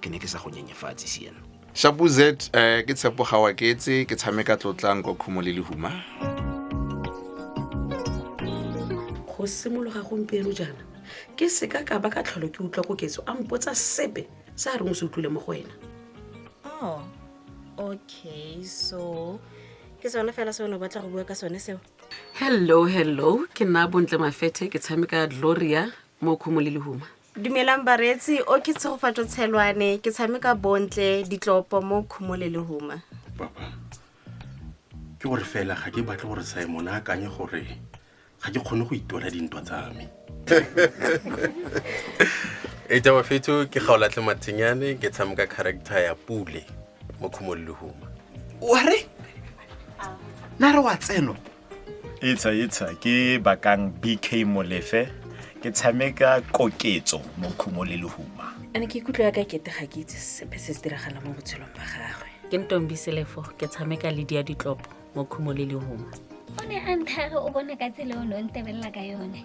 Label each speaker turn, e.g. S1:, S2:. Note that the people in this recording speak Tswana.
S1: ke ne ke sa go nyenyefatse siena shapu z um
S2: ke tshepo ga wa ketse ke tshameka tlotlang kwa khumo le lehuma
S3: go simologa gompieno jaana ke seka ka ba ka tlholo ke utlwa koketso a mpotsa sepe sa a reng o se utlwile mo go wena oh
S4: okay so ke sone fela se o ne o batla go bua ka sone seo hello
S3: hello ke nna bontle mafethe ke tshameka gloria mo khumo le lehuma Dumelang bareetsi,
S4: o ke Tshegofatso Tshelwane, ke tshameka Bontle Ditlopo mo Khumole le Huma.
S5: papa ke gore fela ga ke batle gore simon a akanye gore ga ke kgone go itwela dintwa tsa me
S6: e tsa bafetso ke gaolatlhe matshenyane ke tshameka character ya pule mo khumololehuma ware
S1: na re wa tseno etsha etsha
S7: ke bakang bk molefe ke tshameka koketso mo khumo le lehuma ane ke ikutlwa ya ka
S3: kete ga ke itse sepe se se diragala mo botshelong ba gagwe ke ntombi selefo
S8: ke tshameka le dia ditlopo mo khumo le lehuma o ne a
S9: nthare o bona ka tsela o ne o ntebelela ka yone